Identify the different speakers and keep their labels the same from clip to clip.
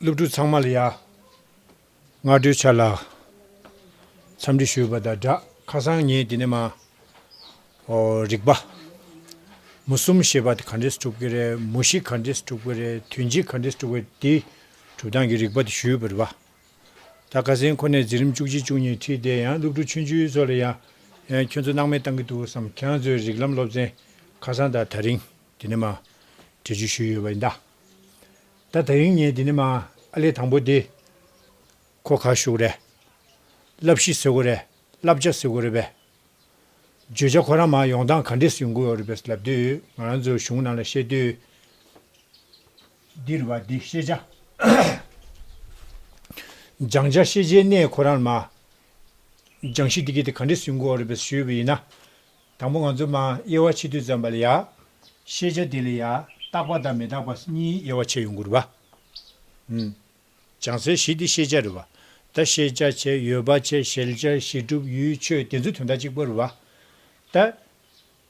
Speaker 1: སློབ་ཕྲུག་ཚང་མ་ལ་ཡ་ང་སྤྲོད་འཆར་ལ། འཚམས་འདྲི་ཞུས་པ་དང་སྦྲགས་ཁ་སང་ངས་དེ་ནས་མ་རིག་པ། མུ་གསུམ་ཞེས་པ་དེ་ག་འདྲས་སུ་གྲུབ་ཀྱི་རེད་མུ་བཞི་ག་འདྲས་སུ་གྲུབ་ཀྱི་རེད་དུས་འཇིག་ག་འདྲས་སུ་གྲུབ་ཀྱི་དེའི་གྲུབ་སྟངས་ཀྱི་རིག་པ་དེ་ཞུས་པར་བ་ད་ག་ཟེ་ཁོ་ནས་འཛིན་རིམ་བཅུ་གཅིག་བཅུ་གཉིས་ཁྲིད་དེ་ཡང་སློབ་ཕྲུག་ཆུང་ཆུང་ཚོ་ལ་ཡ་ཁྱོད་ཚོ་སྣང་མེད་བཏང་གི་འདུག་བསམ་ཁྱང་ཚོའི་རིག་ལམ་སློབ་ཚན་ཁ་སང་དང་ད་རིང་དེ་ནས་མ་འབྲི་རྒྱུ་ཞུས་ཡོད་པ་ཡིན་ད། ད་ད་ཡིན་ངེས་འདི་ནི་མ་ཨ་ལེ་དང་པོ་འདི། ཁོ་ཁ་ཤུགས་རེད། བསླབ་གཞི་ཟེར་དགོས་རེད་བསླབ་བྱ་ཟེར་དགོས་རེད་པས། བརྗོད་བྱ་ཁོ་རང་མ་ཡོང་སྟངས་ག་འདྲས་སུ་ཡོང་གི་ཡོད་རེད་པས་ལབ་དུས་ང་རང་ཚོའི་གཞུང་ནང་ལ་བཤད་དུས། འདིར་བ་འདི་ཤེས་བྱ། སྦྱང་བྱ་ཤེས་བྱའི་གནས་ཁོ་རང་ལ་མ། སྦྱང་གཞི་འདི་ག་འདི་ག་འདྲས་སུ་ཡོང་གི་ཡོད་རེད་པས་ཞུས་པ་ཡིན་ན། དང་པོ་ང་ཚོ་མ་དབྱེ་བ་ཕྱི་དུས་ཙམ་པ་ལ་ཡང། ཤེས་བྱ་དེ་ལ་ཡང་རྟག་པ་དང་མི་རྟག་པ་གཉིས་དབྱེ་བ་ཕྱེ་ཡོང་གི་རེད་པ། བྱང་ཚད་བཞི་དེ་ཤེས་བྱ་རེད་པ། ད་ཤེས་བྱ་བྱས་ཡོད་པ་བྱས་ཤེལ་བྱ་ཤེས་གྲུབ་ཡུལ་ཆོས་དེ་ཚོ་དོན་དག་གཅིག་པོ་རེད་པ། ད།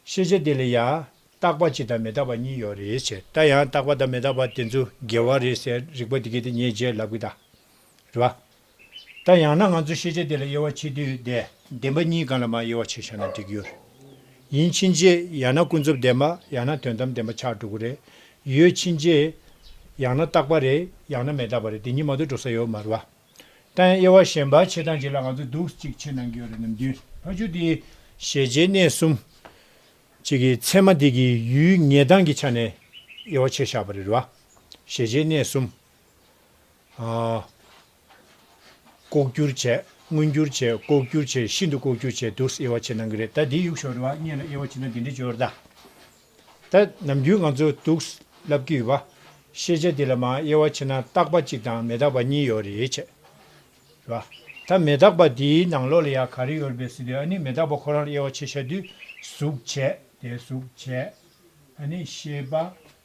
Speaker 1: ཤེས་བྱ་དེ་ལ་ཡང་རྟག་པ་གཅིག་དང་མི་རྟག་པ་གཉིས་ཡོད་རེད་བྱས་ད་ཡང་རྟག་པ་དང་མི་རྟག་པ་དེ་ཚོ་འགལ་བ་རེད་ཟེར་རིག་པ་དེ་གས་དེ་ཉེས་བྱས་ལབ་གི་ད། རེད་པ། ད་ཡང་ན་ང་ཚོས་ཤེས་བྱ་དེ་ལ་དབྱེ་བ་ཕྱེ་དུས་བདེན་པ་གཉིས་གང་ལ་མ་དབྱེ་བ་ཕྱེ་བཞག་ན་འགྲིག་གི་རེད། ཡིན་ཕྱིན་ཆད་ཡང་ན་ཀུན་རྫོབ་བདེན་པ་ཡང་ན་དོན་དམ་བདེན་པ་ཆགས་འགྲོ་གི་རེད། ཡོད་ཕྱིན་ཆད་ཡང་ན་རྟག་པ་རེད་ཡང་ན་མེད་རྟག་པ་རེད་དེ་གཉིས་མ་གཏོགས་འགྲོ་ས་ཡོད་མ་རེད། ད་ཡང་དབྱེ་བ་གཞན་པ་ཕྱེ་སྟངས་ཅིག་ལ་ང་ཚོས་སྡུག་ཅིག་ཆེ་གནང་གི་ཡོད་རེད་ནམ་དུས་ཕ་ཆོས་དེ། ཤེས་བྱའི་གནས་གསུམ། གཅིག་གི་ཚད་མ་དེ་གི་ཡུལ་ངེས་སྟངས་ཀྱི་ཆ་ནས་དབྱེ་བ་ཕྱེ་བཞག་པ་རེད། ཤེས་བྱའི་གནས་གསུམ། ལྐོག་གྱུར་བྱས། མངོན་གྱུར་བྱས། ལྐོག་གྱུར་བྱས་ཤིན་ཏུ་ལྐོག་གྱུར་བྱས་དུས་སུ་དབྱེ་བ་ཕྱེ་གནང་གི་རེད་ད་འདི་གཡུག་ཞོར་རེ་བ་རྙེད་ན་དབྱེ་བ་ཕྱེ་ན་འདི་འདྲི་འཇོག་ད་ད་ནམ་རྒྱུན་ང་ཚོ་དུག་སླབ་ཀྱི་ཡོད་པ་ཤེས་བྱ་འདི་ལ་མ་དབྱེ་བ་ཕྱེ་ན་རྟག་པ་གཅིག་དང་མེ་རྟག་པ་གཉིས་ཡོད་རེད་བྱས་བ་ད་མེ་རྟག་པ་འདིའི་ནང་ལོགས་ལ་ཡག་ག་རེ་ཡོད་རེད་ཟེར་དུས་ཨ་ནི་མེ་རྟག་པ་ཁོ་རང་ལ་དབྱེ་བ་ཕྱེ་ཤ་དུས་གཟུགས་བྱས་དེ་གཟུགས་བྱས་ཨ་ནི་ཤེས་པ་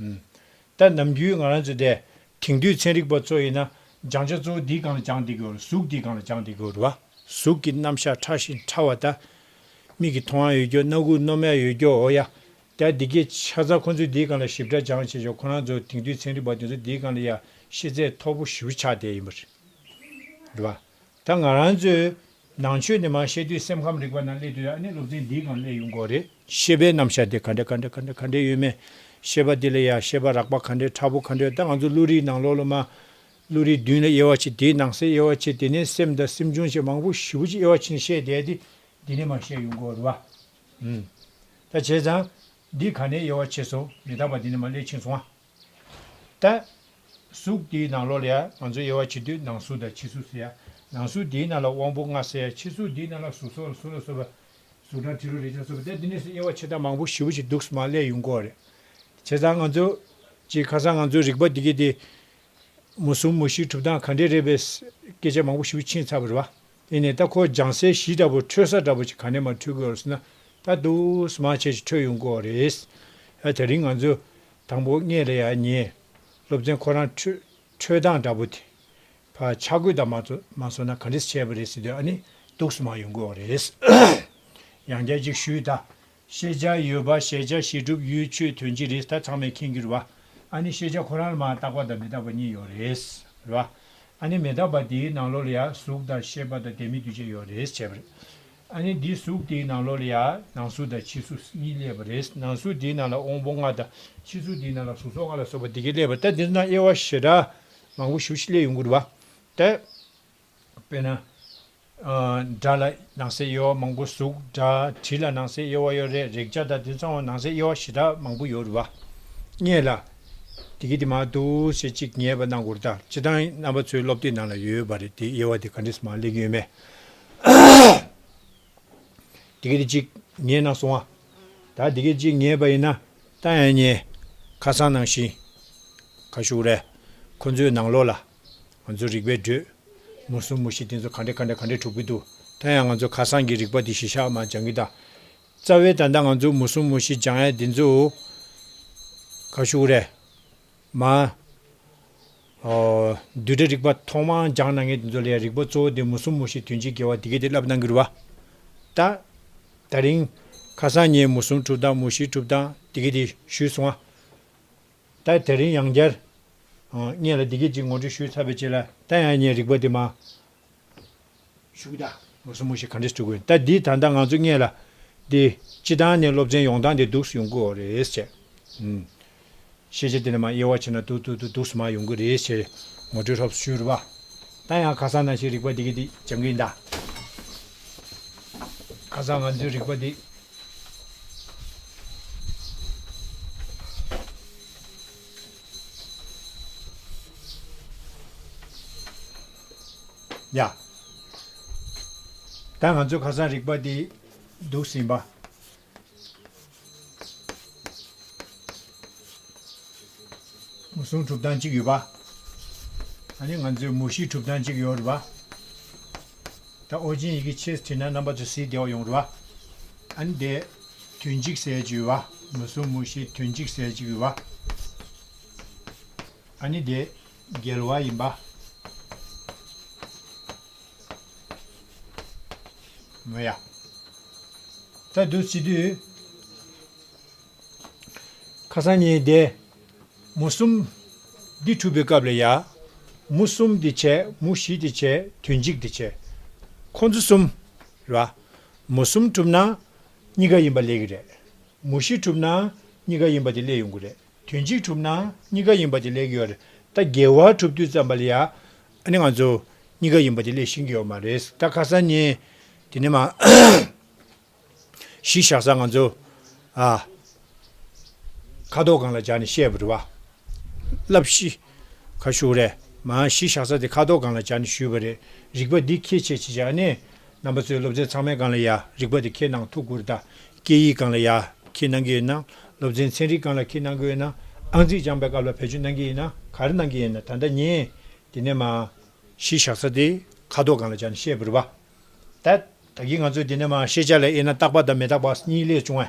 Speaker 1: ལྟར་ནམ་རྒྱུན་ང་རང་ཚོ་དེ་དེང་དུས་ཚན་རིག་པ་ཚོ་ཡིན་ན་སྦྱང་བྱ་གཙོ་བོ་འདིས་གང་ལ་སྦྱངས་བསྡད་དགོས་གཟུགས་འདིས་གང་ལ་སྦྱངས་བསྡད་དགོས་བ། གཟུགས་ཀྱི་རྣམ་གཞག་ཕྲ་ཞིང་ཕྲ་བ་དག། མིག་གི་མཐོང་ཡ་ཡོད་རྒྱུ་རྣ་ཁུག་སྣོམ་ཡ་ཡོད་རྒྱུ་འོ་ཡ། དེ་འདི་གའི་ཆ་ཚང་ཁོང་ཚོས་འདིས་གང་ལ་ཞིབ་ཕྲ་སྦྱངས་བྱས་ཆོག་ཁོ་རང་ཚོ་དེང་དུས་ཚན་རིག་པ་དེ་ཚོ་འདིས་གང་ལ་ཡ་ཤེས་ཚད་མཐོ་པོ་ཞུ་ཆགས་བསྡད་ཡིན་པ་རེད་བ། ད་ང་རང་ཚོས་ནང་ཆོས་ནས་མ་ཤེས་དུས་སེམས་ཁམས་རིག་པ་ནང་སླེབས་དུས་ཨ་ནི་སློབ་ཚན་འདིའི་སྒང་སླེབས་ཡོང་དགོས་རེད། ཤེས་པའི་རྣམ་གཞག་དེ་ག་འདྲ་ག་འདྲ་ག་འདྲ་ག་འདྲའི་ཡོད་མེད། ཤེས་པ་དེ་ལ་ཡང་ཤེས་པ་རགས་པ་ག་འདྲའི་ཕྲ་བོ་ག་འདྲའི་ད་ང་ཚོ་བློ་རིག་ནང་ལོག་ལོ་མ། བློ་རིག་མདུན་ལ་དབྱེ་བ་ཕྱེ་དེའི་ནང་གསེས་དབྱེ་བ་ཕྱེ་དེ་ནས་སེམས་དང་སེམས་བྱུང་བཅས་མང་པོ་བཞི་བོ་ཅིག་དབྱེ་བ་ཕྱེ་ནས་བཤད་བསྡད་དེ་འདི་ནས་མ་ཤེས་ཡོང་དགོས་རེད་བ། ཨུམ། ད་བྱས་ཙང། འདི་ག་ནས་དབྱེ་བ་ཕྱེ་སོང་མི་རྟག་པ་འདི་ནས་མ་སླེབས་ཕྱིན་སོང་བ། ལྟ། གཟུགས་དེའི་ནང་ལོགས་ལ་ཡང་ང་ཚོ་དབྱེ་བ་ཕྱེ་དུས་ནང་གཟུགས་དང་ཕྱི་གཟུགས་ཟེར་ཡ། ནང་གཟུགས་དེའི་ནང་ལ་དབང་པོ་ལྔ་ཟེར་ཡ་ཕྱི་གཟུགས་དེའི་ནང་ལ་གཟུགས་སོགས་ལ་སོ་ལ་སོགས་པ། གཟུགས་དང་དྲི་རོ་རེག་བྱ་སོགས་པ་སྟེ་འདི་གཉིས་སུ་དབྱེ་བ་ཕྱེ་སྟངས་མང་པོ་ཞིབ་པོ་ཞིག་འདུག་སྨྲ་ཀླད་ཡུལ་འགོ་རེད། བྱས་ཙང་ང་ཚོ། ཀྱི་ཁ་སང་ང་ཚོའི་རིག་པ་འདི་གའི་སྟེང། མུ་གསུམ་མུ་བཞིའི་གྲུབ་སྟངས་ག་འདྲས་རེད་པའི། སྐད་ཆ་མང་པོ་ཞིབ་པོ་ཕྱིན་ཚར་བ་རེད། དེ་ནས་ད་ཁོ་ལྗང་སེར་བཞི་འདྲ་པོ་འཕྲོད་ས་འདྲ་པོ་ཅིག་ག་ནས་མ་འཕྲོད་དགོས་རུང་ཟེར་ན། ད་དུ་སྨྲ་ཆེ་ཞིག་འཕྲོད་ཡོང་གི་འོ་རེད། ད་དེ་རིང་ང་ཚོ། དང་པོ་ལྔས་ལ་ཡང་ཉེ། སློབ་ཚན་ཁོ་རང་འཕྲོད་སྟངས་འདྲ་པོ་དེ། ཕ་ཆ་གོས་དག་མ་བཟོ་ན་ག་འདྲི་བྱས་པ་རེད་ཟེར་དུས་ཨ་ནི་སྡུག་སུ་མང་ཡོང་གི་འོག་རེད། ཡང་བསྐྱར་ཅིག་ཞུས་ད། ཤེས་བྱ་ཡོད་པ་ཤེས་བྱ་ཞིག་སྒྲུབ་ཡུལ་ཆོས་དོན་གྱི་རེད་ད་ཚང་མས་མཁྱེན་གྱུར་བ། ཨ་ནི་ཤེས་བྱ་ཁོ་རང་ལ་མ་བརྟགས་པ་དང་མི་རྟག་པ་གཉིས་ཡོད་རེད། རེད་བ། ཨ་ནི་མི་རྟག་པ་དེའི་ནང་ལོགས་ལ་ཡང་གཟུགས་དང་ཤེས་པ་དང་བདེན་མེད་འདུས་བྱས་ཡོད་རེད་བྱས་པ་རེད། ཨ་ནི་འདིའི་གཟུགས་དེའི་ནང་ལོགས་ལ་ཡང་ནང་གཟུགས་དང་ཕྱི་གཟུགས་གཉིས་སླེབས་པ་རེད། ནང་གཟུགས་དེའི་ནང་ལ་དབང་པོ་ལྔ་དང་ཕྱི་གཟུགས་དེའི་ནང་ལ་གཟུགས་སོགས་ལྔ་ལ་སོགས་པ་དེ་གས་སླེབས་པ་སྟེ་འདིར་ན་དབྱེ་བ་ཞེ་དྲག་མང་པོ་ཞུ་ཞིག་ལས་ཡོངས་གུར་བ་སྟེ། དཔེར་ན། སྒྲ་ལ་ནང་གསེས་དབྱེ་བ་མང་པོ་གཟུགས་སྒྲ་དྲི་ལ་ནང་གསེས་དབྱེ་བ་ཡོད་རེད་རེག་བྱ་དང་དེ་ཚང་བ་ནང་གསེས་དབྱེ་བ་ཞེ་དྲག་མང་པོ་ཡོད་རེད་བ། རྙེད་ལ། དེ་གས་དེ་མ་འདུག་ཟེར་ཅིག་ཉེས་པ་གནང་གུར་དང་སྤྱི་བཏང་རྣམ་པ་ཚོའི་སློབ་དེབ་ནང་ལ་ཡོད་པ་རེད་དེ་དབྱེ་བ་དེ་ག་འདྲས་སུ་མང་ལེགས་ཡོད་མེད་དེ་ག་དེ་གཅིག་ཉལ་ན་སོང་ཨ། ད་དེ་ག་གཅིག་ཉལ་བ་ཡིན་ན་ལྟ་ཡང་ཉལ། ཁ་སང་ནང་བཞིན། ཁ་ཤུགས་རེ། ཁོ་ཚོའི་ནང་ལོགས་ལ། ང་ཚོ་རིག་པའི་བགྲོད། མུ་གསུམ་མུ་བཞི་དེ་ཚོ་ག་འདྲ་ག་འདྲ་ག་འདྲ་གྲུབ་ཀྱི་འདུག་ད་ཡང་ང་ཚོ་ཁ་སང་གི་རིག་པ་དེ་གཞི་ཞག་མ་སྦྱང་གི་ད། རྩ་བའི་ད་ལྟ་ང་ཚོ་མུ་གསུམ་མུ་བཞི་སྦྱང་ཡ་དེ་ཚོ། ཁ་ཤུགས་རེ། མ། བསྡུས་གྲྭའི་རིག་པ་ཐོག་མར་སྦྱངས་ན་ངེས་དེ་ཚོ་ལ་ཡང་རིག་པ་གཙོ་བོ་དེ་མུ་གསུམ་མུ་བཞི་དོན་གཅིག་དགེ་བ་དེ་སྐད་དེ་བསླབ་གནང་གི་རུ་བ། ད་ད་རིང་ཁ་སང་ངས་མུ་གསུམ་གྲུབ་དང་མུ་བཞི་གྲུབ་དང་དེ་སྐད་དེ་ཞུས་སོང་ཨ། ད་ད་རིང་ཡང་བསྐྱར། ངས་ལ་དེ་སྐད་ཅིག་ངོ་སྤྲོད་ཞུས་ཚར་བའི་རྗེས་ལ་ད་ཡང་ངས་རིག་པ་དེ་མ། ཞུགས་ད། ངོ་སོ་མོ་ཞིག་ག་འདྲས་བཅུག་གོ། ད་འདིས་ད་ལྟ་ང་ཚོ་རྙེད་ལ། འདི། སྤྱི་བཏང་ནས་སློབ་ཚན་ཡོང་སྟངས་དེ་སྡུག་སུ་ཡོང་གི་འོ་རེད་ཟེར། ཤེས་བྱ་དེ་ལས་མ་དབྱེ་བ་བྱས་ན་སྡུག་སྡུག་སྡུག་སྡུག་སུ་མ་ཡོང་གི་རེད་ཟེར། ངོ་སྤྲོད་ལྷོབ་སུ་ཤོར་བ། ད་ཡང་ཁ་སང་ན་ཞིག་རིག་པ་འདི་གི་འདི་སྦྱང་གིན་གདའ། ཁ་སང་ང་ཚོའི་རིག་པ་འདི། ཡ། ད་ང་ཚོས་ཁ་སང་རིག་པ་འདི་འདུག་ཟིན་པ། མུ་སུང་གྲུབ་སྟངས་གཅིག་ཡོད་པ། ད་ནི་ང་ཚོས་མུ་བཞི་གྲུབ་སྟངས་གཅིག་ཡོད་རེད་པ། ད་ཨོ་རྒྱན་ཡི་གེ་ཕྱེས་ཚེ་ན་རྣམ་པ་ཚོ་ཟིལ་བདེ་བ་ཡོང་རེད་པ། ཨ་ནི་དེ། དུས་འཇིག་ཟེར་གཅིག་ཡོད་པ། མུ་སུང་མུ་བཞི་དུས་འཇིག་ཟེར་གཅིག་ཡོད་པ། ཨ་ནི་དེ། རྒྱལ་བ་ཡིན་པ། མོ་ཡ། ད་དུ་སྤྱི་འཐུས། ཁ་སང་ཉིན་དེ། མུ་གསུམ། འདི་འཁྲུགས་པའི་སྐབས་ལ་ཡ། མུ་གསུམ་དེ་བྱས་མུ་བཞི་དེ་བྱས་དུས་འཇིག་དེ་བྱས། ཁོ་ཚོ་གསུམ། ལ། མུ་གསུམ་འཁྲུགས་ན། གཉིས་ཀ་ཡིན་པ་ལས་གི་རེད། མུ་བཞི་འཁྲུགས་ན། གཉིས་ཀ་ཡིན་པ་དེ་ལས་ཡོང་གི་རེད། དུས་གཅིག་གྲུབ་ན་གཉིས་ཀ་ཡིན་པ་དེ་ལེགས་ཡོད་རེད་ད་རྒྱལ་བ་གྲུབ་དུས་ཙམ་པ་ལ་ཡང་ཨ་ནི་ང་ཚོ་གཉིས་ཀ་ཡིན་པ་དེ་ལེགས་ཤིང་གི་ཡོད་མ་རེད་ད་ཁ་སང་ཉིན་དེ་ནས་མ་གཞི་བཞག་ས་ང་ཚོ་ཨ་ཁ་དོག་གང་ལ་བྱ་ནས་བཤད་པ་རེད་བ་ལབ་ཤི། ཁ་ཤུགས་རེད་མ་གཞི་བཞག་ས་དེ་ཁ་དོག་སྒང་ལ་སྦྱར་ནས་ཞུས་པ་རེད་རིག་པ་འདི་ཁྱེད་ཆེད་ཅིག་བཞག་ནས། རྣམ་པ་ཚོའི་སློབ་ཚན་ཚང་མའི་སྒང་ལ་ཡ་རིག་པ་དེ་ཁྱེད་གནང་ཐུགས་ཁུར་ད། སྐད་ཡིག་སྒང་ལ་ཡ་ཁྱེད་གནང་གི་ཡོད་ན་སློབ་ཚན་ཚན་རིག་སྒང་ལ་ཁྱེད་གནང་གི་ཡོད་ན་ཨང་རྩིས་སྦྱངས་པའི་སྐབས་ལ་བེད་སྤྱོད་གནང་གི་ཡིན་ན་གར་གནང་གི་ཡིན་ན་ད་ལྟ་ཉན། དེ་ནས་མ་གཞི་བཞག་ས་དེ་ཁ་དོག་སྒང་ལ་སྦྱར་ནས་བཤད་བུར་བ་ད། ད་གིས་ང་ཚོས་དེ་ནས་མ་ཤེས་བྱ་ལ་དབྱེ་ན་རྟག་པ་དང་མི་རྟག་པ་གཉིས་ལས་བྱུང་བ།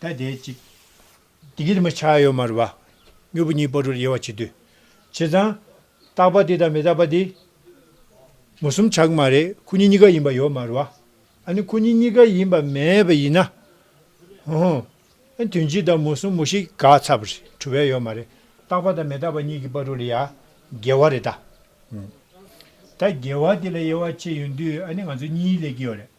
Speaker 1: ད་དེ་ཅིག། དེ་གྱིས་མི་ཆགས་ཡོད་མ་རུ་བ། མྱུར་བུ་གཉིས་སྤོ་བྲུར་དབྱེ་བ་བྱེད་དུས། བྱས་ཙང། རྟག་པ་དེ་དང་མི་རྟག་པ་དེ། མུ་གསུམ་ཆགས་ཀྱི་མ་རེད་ཁོ་གཉིས་གཉིས་ཀ་ཡིན་པ་ཡོད་མ་རུ་བ། ཨ་ནི་ཁོ་གཉིས་གཉིས་ཀ་ཡིན་པ་མེད་པ་ཡིན་ན། ཧུ་ཧུ། ཨ་དོན་གཅིག་དང་མུ་གསུམ་མུ་ཤི་ག་ཚ་བུ་རེད་བྲུ་བས་ཡོད་མ་རེད་རྟག་པ་དང་མི་རྟག་པ་གཉིས་ཀྱི་སྤོ་བྲུ་ལ་ཡ། འགལ་བ་རེད་ད། ད་འགལ་བ་དེ་ལ་དབྱེ་བ་ཕྱེ་ཡོང་དུས་ཨ་ནི་ང་ཚོ་གཉིས་ལས་ཀྱི་ཡོད་རེད།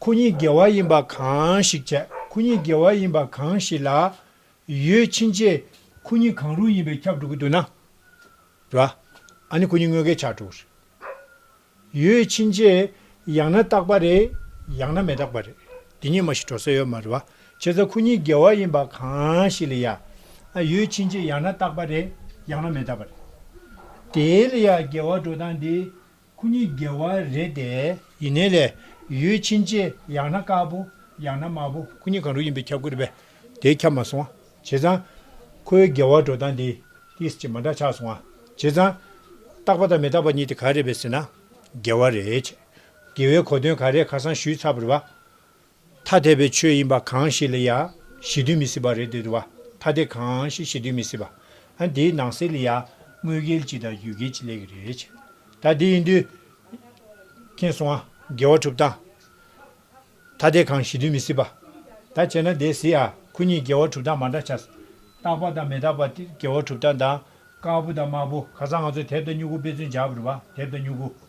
Speaker 1: ཁོ་གཉིས་དགེ་བ་ཡིན་པ་གང་ཞིག་བྱས་ཁོ་གཉིས་དགེ་བ་ཡིན་པ་གང་ཞིག་ལ་ཡོད་ཕྱིན་ཆད་ཁོ་གཉིས་གང་རུང་ཡིན་པའི་ཁྱབ་འགྲོ་གི་འདུག་ན། རེད་བ། ཨ་ནི་ཁོ་གཉིས་དངོས་འགལ་ཆགས་འགྲོ་གི་རེད། ཡོད་ཕྱིན་ཆད་ཡང་ན་རྟག་པ་རེད་ཡང་ན་མེ་རྟག་པ་རེད་དེ་གཉིས་མ་ཞིག་འགྲོ་ས་ཡོད་མ་རེད་བ། བྱས་ཙང་ཁོ་གཉིས་དགེ་བ་ཡིན་པ་གང་ཞིག་ལ་ཡ། ཡོད་ཕྱིན་ཆད་ཡང་ན་རྟག་པ་རེད་ཡང་ན་མེ་རྟག་པ་རེད། དེའི་ལ་ཡ་དགེ་བ་འགྲོ་སྟངས་འདི། ཁོ་གཉིས་དགེ་བ་རེད་དེ། ཡིན་ནའི་ལས་ཡོད་ཕྱིན་ཆད་ཡང་ན་དཀར་པོ་ཡང་ན་དམར་པོ་ཁོ་གཉིས་གང་རུང་ཡིན་པའི་ཁྱབ་ཁོལ་བས་དེ་ཁྱབ་མ་སོང་བྱས་ཙང། ཁོའི་དགེ་བ་འགྲོ་སྟངས་འདི་ཏིས་ཀྱི་མ་འདྲ་ཆགས་སོང་བྱས་ཙང། རྟག་པ་དང་མི་རྟག་པ་གཉིས་དེ་ག་རེད་བས་ཟེར་ན། དགེ་བ་རེད། དགེ་བའི་གོ་དོན་ག་རེད་ཁ་སང་ཞུས་ཚར་བར་བ། ཐ་དད་པའི་ཆོས་ཡིན་པ་གང་ཞིག་ལ་ཡང་གཞི་མཐུན་མི་སྲིད་པ་རེད་དེ་དུ་བ་ཐ་དད་གང་ཞིག་གཞི་མཐུན་མི་སྲིད་པ། ཨ་འདིའི་ནང་གསེས་ལ་ཡང་དངོས་འགལ་གྱི་དང་ཡུལ་འགལ་གྱི་ལས་ཀྱི་རེད་བྱས། ད་འདི་ཡིན་དུས། མཁྱེན་སོང་ཨ། འགལ་བ་གྲུབ་སྟངས། ཐ་དད་གང་གཞི་མཐུན་མི་སྲིད་པ། ད་བྱས་ན་དེ་སྲིད་ཨ་ཁུ་གཉིས་འགལ་བ་གྲུབ་སྟངས་མ་འདྲ་ཆགས། རྟག་པ་དང་མི་རྟག་པ་འགལ་བ་གྲུབ་སྟངས་དང། དཀར་པོ་དང་དམར་པོ་ག་ས་ང་ཚོས་དེབ་དང་སྨྱུ་གུ་དཔེ་མཚོན་བྱ་དགོས་རེད་པ་དེབ་དང་སྨྱུ་གུ།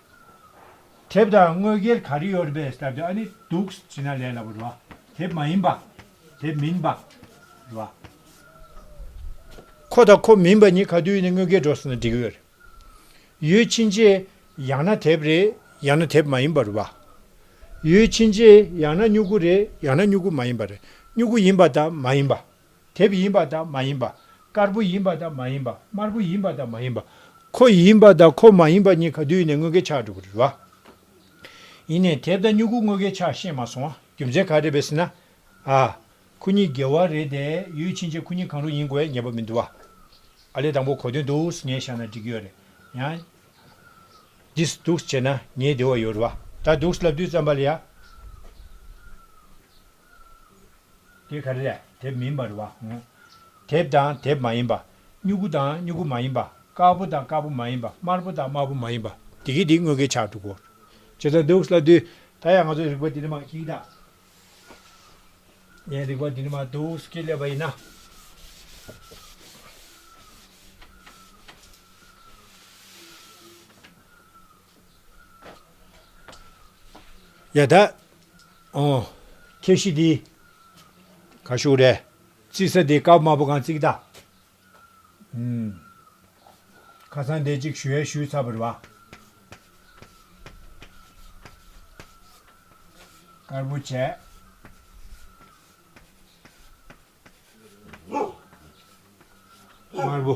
Speaker 1: དེབ་དང་དངོས་སྒེར་ག་རེ་ཡོད་རེད་པས་ཨ་ནི་འདུག་བྱས་ན་ལས་སླ་པོ་རེད་བ། དེབ་མ་ཡིན་པ། དེབ་མིན་པ། རེད་བ། ཁོ་དང་ཁོ་མིན་པ་གཉིས་ག་དུས་ནས་དངོས་སྒེར་འགྲོ་སོང་ན་འགྲིག་གི་རེད། ཡོད་ཕྱིན་རྗེས་ཡང་ན་དེབ་རེད་ཡང་ན་དེབ་མ་ཡིན་པ་རེད་བ། ཡོད་ཕྱིན་རྗེས་ཡང་ན་སྨྱུ་གུ་རེད་ཡང་ན་སྨྱུ་གུ་མ་ཡིན་པ་རེད་སྨྱུ་གུ་ཡིན་པ་དང་མ་ཡིན་པ། དེབ་ཡིན་པ་དང་མ་ཡིན་པ། དཀར་པོ་ཡིན་པ་དང་མ་ཡིན་པ་དམར་པོ་ཡིན་པ་དང་མ་ཡིན་པ། ཁོ་ཡིན་པ་དང་ཁོ་མ་ཡིན་པ་གཉིས་ག་དུས་ནས་དངུལ་གེ་ཆག་འགྲོ་གི་རེད་བ། ཡིན་ནས་དེབ་དང་སྨྱུ་གུ་དངུལ་གེ་ཆག་ཤེས་མ་སོང་བ་རྒྱུ་མཚན་ག་རེད་བས་ཟེར་ན། ཨ། ཁོ་གཉིས་འགལ་བ་རེད་དེ་ཡོད་ཕྱིན་ཆད་ཁོ་གཉིས་གང་རུང་ཡིན་དགོས་བས་ངེས་པ་མི་འདུག་བ། ཨ་ལས་དང་པོ་གོ་དོན་འདུག་ངས་བཞག་ན་འགྲིག་གི་ཡོད་རེད་ཡང། འདིས་འདུག་བྱས་ན་ངས་བདེ་བ་ཡོད་རེད་བ། ད་འདུག་ལབ་དུས་བརྩམས་པ་ལ་ཡ། དེ་ག་རེ་རེད་དེབ་མིན་པ་རེད་བ། དེབ་དང་དེབ་མ་ཡིན་པ། སྨྱུ་གུ་དང་སྨྱུ་གུ་མ་ཡིན་པ། དཀར་པོ་དང་དཀར་པོ་མ་ཡིན་པ། དམར་པོ་དང་དམར་པོ་མ་ཡིན་པ། དེ་གའི་དེ་དངོས་ཀའི་ཆ་དྲུག་གོ། ཇི་ལྟར་འདུག་སླ་དུས། ད་ཡང་ང་ཚོ་རིག་པ་འདི་ནི་མ་གཅིག་དང། ངས་རིག་པ་འདི་ནི་མ་འདུག་ཅེས་སླེབས་པ་ཡིན་ན། ཡ། ད་ཨོ། ཁྱེད་གཞི་འདི། ག་བཞུགས་རེད། རྩིས་ས་འདི་ཀརྨ་པོ་གང་རྩིག་ད། ཨུམ། ཁ་སང་འདས་གཅིག་ཞུ་ཡ་ཞུས་ཚར་བ་རེད་བ། དཀར་པོ་བྱས། དམར་པོ།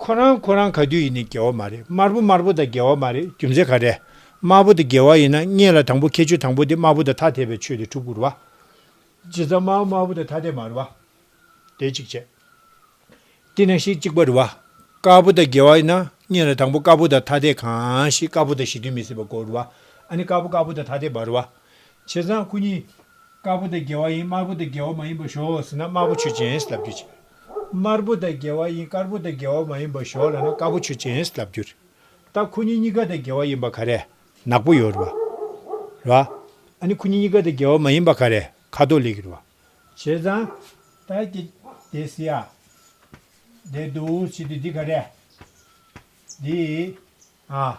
Speaker 1: ཁོ་རང་ཁོ་རང་ག་དུས་ཡིན་ནས་རྒྱལ་བ་མ་རེད་དམར་པོ་དམར་པོ་དང་རྒྱལ་བ་མ་རེད་རྒྱུ་མཚན་ག་རེད་དམར་པོ་དང་རྒྱལ་བ་ཡིན་ན་རྙེད་ལ་དང་པོ་ཁྱད་ཆོས་དང་པོ་དེ་དམར་པོ་དང་ཐ་དད་པའི་ཆོས་དེ་དྲུག་བསྐུར་བ། རྗེས་ཙམ་དམར་པོ་དམར་པོ་དང་ཐ་དད་མ་རུ་བ། དེ་གཅིག་བྱས། དེ་ན་ཞིག་གཅིག་པ་རུ་བ། དཀར་པོ་དང་རྒྱལ་བ་ཡིན་ན་རྙེད་ལ་དང་པོ་དཀར་པོ་དང་ཐ་དད་གང་ཞིག་དཀར་པོ་དང་གཞི་མཐུན་མི་སྲིད་པ་གོ་རུ་བ། ཨ་ནི་དཀར་པོ་དཀར་པོ་དང་ཐ་དད་མ་རུ་བ། བྱས་ཙང་སྐུ་གཉིས། དཀར་པོ་དང་རྒྱལ་བ་ཡིན་དམར་པོ་དང་རྒྱལ་བ་མ་ཡིན་པ་ཞོག་ཟེར་ན་དམར་པོ་ཆོས་ཅན་ཞེས་ལབ་རྒྱུ་བྱས། དམར་པོ་དང་འགལ་བ་ཡིན་དཀར་པོ་དང་འགལ་བ་མ་ཡིན་པ་ཞོག་ལ་ན་དཀར་པོ་ཆུ་ཅན་ལྟ་བུ་གྱུར། ད་ཁོ་གཉིས་གཉིས་ཀ་དང་འགལ་བ་ཡིན་པ་ག་རེ། ནག་པོ་ཡོད་རེད་བ། ཨ་ནི་ཁོ་གཉིས་གཉིས་ཀ་དང་འགལ་བ་མ་ཡིན་པ་ག་རེ་ཁ་དོག་ལེགས་རེད་བ། བྱས་ཙང། ད་ཀྱེ། དེ་སི་ཡ། དེ་འདུག་བྱེད་དུས་འདི་ག་རེ། འདི། ཨ།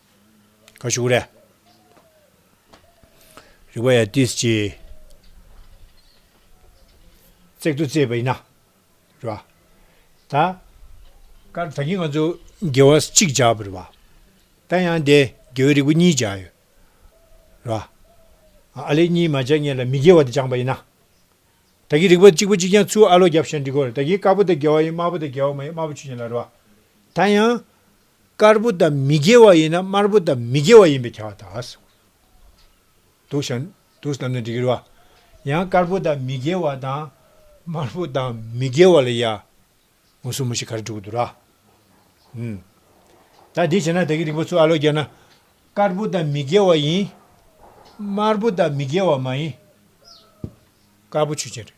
Speaker 1: ཁ་བཞུགས་རེ། རིག་པ་ཡ་ཏིས་ཀྱིས། བརྩེགས་ཏུ་བརྩེས་པ་ཡིན་ན། རེ་བ། ད། ཀར་ད་གིན་ང་ཚོ་དགེ་བ་གཅིག་བྱ་བ་རེ་བ། ད་ཡང་དེ་དགེ་བའི་རིག་པ་གཉིས་བྱ་ཡོད། རེ་བ། ཨ་ལེ་གཉིས་མ་བྱ་ངེད་ལ་མི་དགེ་བ་དེ་སྦྱངས་པ་ཡིན་ན། ད་གིན་རིག་པ་གཅིག་པ་གཅིག་ཀྱང་ཚུར་ཨ་ལོ་རྒྱབ་ཤ་འདྲི་དགོས་རེད་ད་གིན་དཀར་པོ་དེ་དགེ་བ་ཡིན་དམར་པོ་དེ་དགེ་བ་མ་ཡིན་མ་བུ་ཆུ་ཡིན་ལ་རེ་བ། ད་ཡང། དཀར་པོ་དང་མི་དགེ་བ་ཡིན་ན་དམར་པོ་དང་མི་དགེ་བ་ཡིན་པའི་བྱ་བ་དག་གསུངས། དུག་ཤ། དུག་གསུམ་ནི་འདི་སྐྱུར་བ། ཡང་དཀར་པོ་དང་མི་དགེ་བ་དང། དམར་པོ་དང་མི་དགེ་བ་ལ་ཡང། མུ་སུ་མུ་ཤི་ག་རེ་དྲུག་དུ་ར། ད་འདི་བྱས་ན་ད་གི་རིགས་པ་ཚུལ་ཨ་ལོ་རྒྱས་ན། དཀར་པོ་དང་མི་དགེ་བ་ཡིན། དམར་པོ་དང་མི་དགེ་བ་མ་ཡིན། དཀར་པོ་ཆུ་ཆེན་རེད།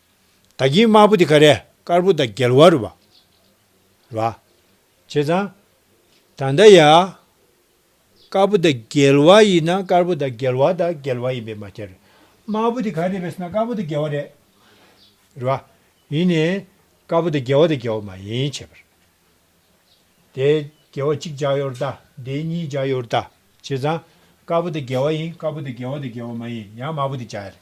Speaker 1: ད་གིན་དམར་པོ་དེ་ག་རེ། དཀར་པོ་དང་རྒྱལ་བ་རུ་བ། ར། བྱས་ཙང། ད་ལྟ་ཡ། དཀར་པོ་དང་རྒྱལ་བ་ཡིན་ན་དཀར་པོ་དང་རྒྱལ་བ་དང་རྒྱལ་བ་ཡིན་པས་མ་ཁྱེར། དམར་པོ་དེ་ག་རེ་བས་ན་དཀར་པོ་དང་རྒྱལ་བ་རེད། ར། ཡིན་ནས། དཀར་པོ་དང་རྒྱལ་བ་དང་རྒྱལ་བ་མ་ཡིན་བྱས་པར། དེ། རྒྱལ་བ་གཅིག་འཇགས་ཡོད་རུ་བལྟ། དེ་གཉིས་འཇགས་ཡོད་རུ་བལྟ། བྱས་ཙང། དཀར་པོ་དང་རྒྱལ་བ་ཡིན་དཀར་པོ་དང་རྒྱལ་བ་དང་རྒྱལ་བ་མ་ཡིན་ཡང་དམར་པོ་དེ་འཇགས་ཡོད་རེད།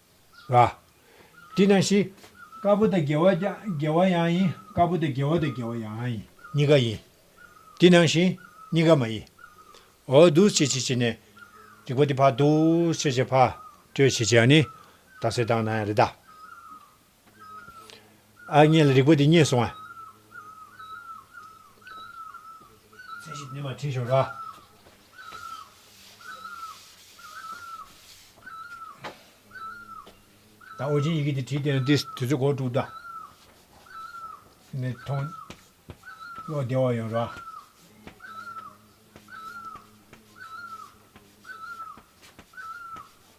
Speaker 1: ལ། དེས་ན་ཞི། དཀར་པོ་དང་དགེ་བ་དགེ་བ་ཡང་ཡིན་དཀར་པོ་དང་དགེ་བ་དང་དགེ་བ་ཡང་ཡིན། གཉིས་ཀ་ཡིན། དེ་ནང་བཞིན་གཉིས་ཀ་མ་ཡིན། འོ་འདུ་བྱེད་བྱེད་བྱེད་ནས། རིག་པ་དེ་བར་འདུ་བྱེད་བྱེད་བར། སྤྲོས་བྱེད་བྱེད་ནི། རྟགས་སེལ་རྟགས་ན་ཡང་རེ་ད། ཨ་མྱེས་ལ་རིག་པ་འདི་རྙེད་སོང་ཨ། ཚད་གཞི་སྣེ་མང་ཁྲིད་ཤོག་ར། ད་ཨོ་རྒྱན་ཡི་གེ་འདི་བྲིས་བསྡད་ན་འདི་དུས་ཚོད་གོ་དཀྲུགས་གདའ། ནས་མཐོང། བློ་བདེ་བ་ཡོང་ར།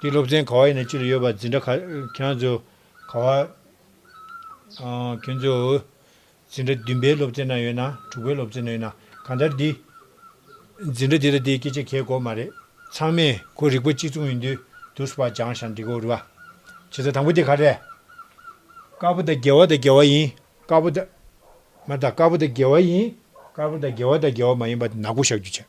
Speaker 1: འདི་སློབ་ཚན་ག་བ་ཡིན་ན་ཅི་ལ་ཡོད་པ་འཛིན་གྲྭ་ཁྱེད་ཚོ་ག་བ། ཁྱེད་ཚོ། འཛིན་གྲྭ་བདུན་པའི་སློབ་ཚན་ན་ཡོད་ན་དྲུག་པའི་སློབ་ཚན་ན་ཡོད་ན་གང་ལྟར་འདི། འཛིན་གྲྭ་འདི་ལ་འདི་སྐད་ཆ་གལ་གོ་མ་རེད་ཚང་མས་གོ་རིག་པ་གཅིག་མཚུངས་ཡིན་དུས་དུ་སུ་བ་སྦྱང་ཞང་འགྲིག་གོ་རི་བ། བྱེད་ས་དང་པོ་དེ་ག་རེད། དཀར་པོ་དང་རྒྱལ་བ་དང་རྒྱལ་བ་ཡིན་དཀར་པོ་དང། མ་དང་དཀར་པོ་དང་རྒྱལ་བ་ཡིན་དཀར་པོ་དང་རྒྱལ་བ་དང་རྒྱལ་བ་མ་ཡིན་པ་ནག་པོ་བཞག་རྒྱུ་བྱ།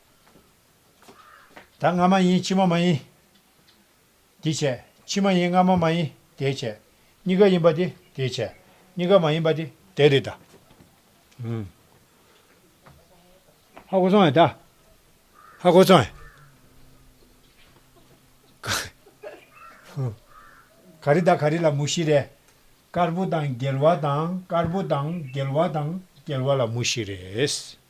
Speaker 1: ད་སྔ་མ་ཡིན་ཕྱི་མ་མ་ཡིན། འདི་བྱས་ཕྱི་མ་ཡིན་སྔ་མ་མ་ཡིན་དེ་བྱས། གཉིས་ཀ་ཡིན་པ་དེ་དེ་བྱས། གཉིས་ཀ་མ་ཡིན་པ་དེ་དེ་རེད་ད། ཧ་གོ་སོང་ཨེ་ད། ཧ་གོ་སོང་ཨེ། ག་རེ་ད་ག་རེ་ལ་མུ་བཞི་རེད། དཀར་པོ་དང་རྒྱལ་བ་དང་དཀར་པོ་དང་རྒྱལ་བ་དང་རྒྱལ་བ་ལ་མུ་བཞི་རེད།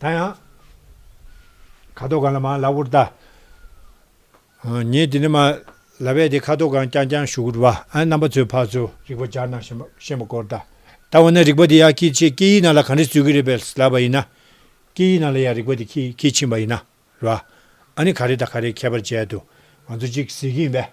Speaker 1: ད་ཡང། ཁ་དོག་གང་ལ་མ་ལ་བུར་ལྟ། ངས་དེ་ནི་མ་ལ་བས་ཏེ་ཁ་དོག་གང་རྐྱང་རྐྱང་ཞུགས་རུ་བ། རྣམ་པ་ཚོའི་བར་ཚུར་རིག་པ་སྦྱར་ན་ཤེས་མ་སྐོར་ལྟ། ད་འོ་ན་རིག་པ་དེ་ཡང་ཁྱེད་ཀྱིས་སྐད་ཡིག་ནང་ལ་གང་འདྲས་བཟོས་ཀྱི་རེད་པས་ལབ་པ་ཡིན་ན། སྐད་ཡིག་ནང་ལ་ཡང་རིག་པ་དེ་ཁྱེད་ཀྱིས་ཕྱིན་པ་ཡིན་ན་རུ། ཨ་ནི་ག་རེ་དང་ག་རེ་ཁྱད་པར་འབྱེད་དུ་ང་ཚོ་གཅིག་གཟིགས་ཀྱི་ཡིན་པས།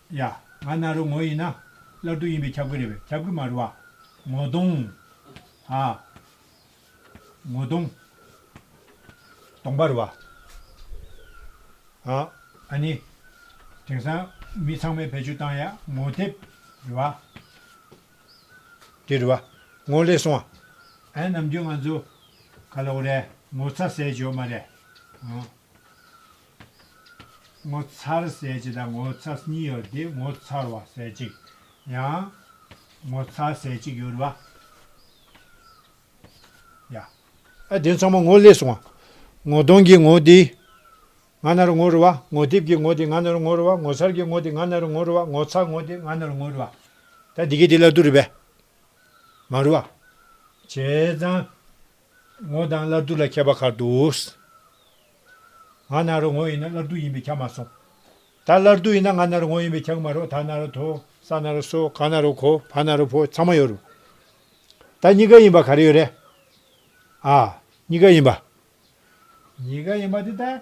Speaker 1: ཡ། ང་ནཱ་རོ་ངོ་ཡིན་ན། སླར་སྡུག་ཡིན་པས་ཁྱབ་ཀྱི་རེད་པས་ཁྱབ་ཀྱི་མ་རེད་བ། ངོ་གདོང། ཧ། ངོ་གདོང། སྟོང་པ་རེད་བ། ཧ། ཨ་ནི། དེང་སང། མི་ཚང་མས་བེད་སྤྱོད་བཏང་ཡ། ངོ་དེབ། རེད་བ། དེ་རེད་བ། ངོ་ལེ་སོང་བ། ཨེ། ནམ་རྒྱུན་ང་ཚོ། ཁ་ལོག་རེད། ངོ་ཚ་ཟས་བྱོ་མ་རེད། ངོ་མཚར་གསལ་བྱེད་དང་ངོ་མཚར་གཉིས་ཡོད་དེ་ངོ་མཚར་བ་གསལ་བྱེད་ཡང། ངོ་མཚར་གསལ་བྱེད་ཡོད་པ་ཡ། ཨ་དེ་ཚང་མ་ངོ་བསླེས་སོང་ཨ། ངོ་གདོང་གི་ངོ་དེ་ང་ན་རུ་ངོ་རུ་བ་ངོ་སྡེབས་ཀྱི་ངོ་དེ་ང་ན་རུ་ངོ་རུ་བ་ངོ་མཚར་གྱི་ངོ་དེ་ང་ན་རུ་ངོ་རུ་བ་ངོ་མཚར་ངོ་དེ་ང་ན་རུ་ངོ་རུ་བ། ད་འདི་གའི་དེ་ལ་དུ་རུ་བས། མ་རུ་བ། བྱས་ཙང། ངོ་དང་བླ་རྡུ་ལ་ཁྱད་པ་གར་འདུག། ང་ནཱ་རོ་ངོ་ཡིན་ན་བླ་རྡུ་ཡིན་པས་ཁྱག་མ་སོང། ད་བླ་རྡུ་ཡིན་ན་ང་ནཱ་རོ་ངོ་ཡིན་པས་ཁྱག་མ་རོ་ད་ནཱ་རོ་དོ་ས་ནཱ་རོ་སོ་ག་ནཱ་རོ་གོ་ཕ་ནཱ་རོ་ཕོ་ཚང་མ་ཡོད་རུང། ད་གཉིས་ཀ་ཡིན་པ་ག་རེ་ཡོད་རེད། ཨ། གཉིས་ཀ་ཡིན་པ། གཉིས་ཀ་ཡིན་པ་དེ་ལྟ།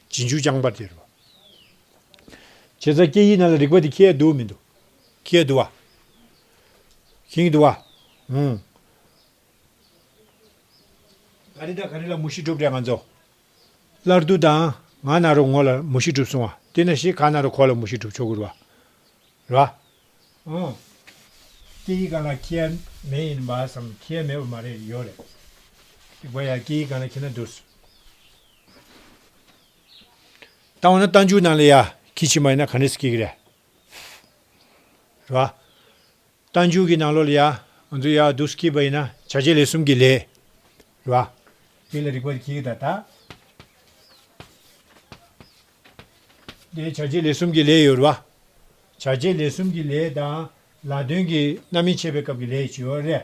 Speaker 1: རྗེས་འཇུག་རྐྱང་པར་སྟེར་བ། བྱེད་རྩ་སྐྱེ་ཡི་ན་ལ་རིག་པ་འདི་ཁྱེད་འདུལ་མི་འདུལ། ཁྱེད་འདུལ་བ། ཞིང་འདུལ་བ། ཧུང། ག་རེ་དང་ག་རེ་ལ་མུ་ཤི་སྒྲུབ་དྲན་ང་ཚོ། སླར་འདུལ་དང། ང་ན་རོ་ངོ་ལ་མུ་ཤི་སྒྲུབ་སོང་བ། དེ་ན་ཞིག་ག་ན་རོ་ཁོ་ལ་མུ་ཤི་སྒྲུབ་ཆོག་གུ་རུ་བ། ར། ཧུང། སྐྱེ་ཡི་ག་ལ་ཁྱེད་མེད་ཡིན་བ་བསམ་ཁྱེད་མེད་བ་མ་རེད་ཡོད་རེད། རིག་པ་ཡ་སྐྱེ་ཡི་ག་ན་ཁྱེད་ན་འདུལ་སོང། བཏང་བ་ན་རྟ་མཇུག་ནང་ལ་ཡར་འཁྱིལ་ཕྱི་མ་ཡིན་ན་ག་འདྲས་སུ་སྐྱེ་གི་རེད། རེད་བ། རྟ་མཇུག་གི་ནང་ལོགས་ལ་ཡར་ང་ཚོ་ཡར་སྡུག་སུ་འཁྱིལ་པ་ཡིན་ན་བྱ་བྱེད་ལས་གསུམ་གྱི་ལས། རེད་བ། དེ་ལ་རིག་པ་ལ་འཁྱིལ་གི་ད་ལྟ། དེ་བྱ་བྱེད་ལས་གསུམ་གྱི་ལས་ཡོད། རེད་བ། བྱ་བྱེད་ལས་གསུམ་གྱི་ལས་དང་ལ་དོན་གྱི་རྣམ་སྨིན་འཆད་པའི་སྐབས་ཀྱི་ལས་བྱེད་ཡོད། རེད།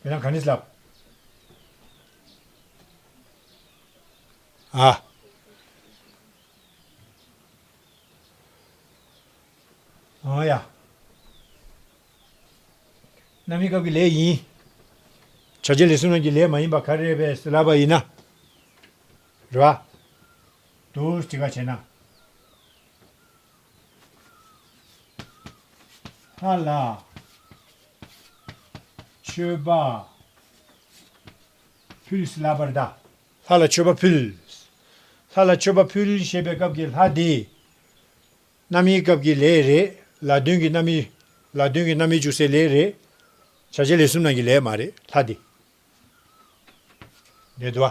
Speaker 1: ཁྱེད་རང་ག་ནས་བསླབས། ཨ། ཨོ་ཡ། གནའ་མི་སྐབས་ཀྱི་ལས་ཡིན། བྱ་བྱེད་ལས་བསོད་ནམས་ཀྱི་ལས་མ་ཡིན་པ་ག་རེ་བས་བསླབས་པ་ཡིན་ན། རེད་བ། དུ་ཅི་ག་བྱས་ན། ལྷ་ལ། མཆོད་པ་ཕུལ། ལ་བར་དག། ལྷ་ལ་མཆོད་པ་ཕུལ། ལྷ་ལ་མཆོད་པ་ཕུལ་ཞེས་པའི་སྐབས་ཀྱི་ལྷ་དེ། རྣམ་དབྱེའི་སྐབས་ཀྱི་ལས་རེད་ལ་དོན་གྱི་རྣམ་དབྱེ། ལ་དོན་གྱི་རྣམ་དབྱེ་འཇུག་སའི་ལས་རེད། བྱ་བྱེད་ལས་གསུམ་ནང་གི་ལས་མ་རེད་ལྷ་དེ། རེད་དོ།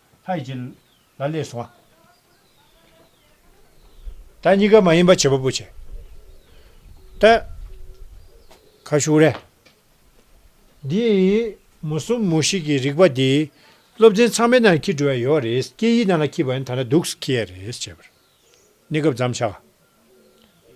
Speaker 1: ལྷ་ཡི་རྗེ། ལ་ལས་བྱུང་བ། ད་གཉིས་ཀ་མ་ཡིན་པ་བྱེད་པ་པོ་བྱེད། ཏེ། ཁ་ཤུགས་རེ། འདི། མུ་གསུམ་མུ་ཞིག་གི་རིག་པ་འདི། སློབ་ཚན་ཚང་མའི་ནང་འཁྱིལ་འགྲོ་ཡ་ཡོད་རེད་སྐད་ཡིག་ནང་ལ་འཁྱིལ་བ་ཡིན་ད་ན་སྡུག་སུ་འཁྱིལ་ཡ་རེད་བྱས་པར། གནས་སྐབས་འཇམ་ཆགས།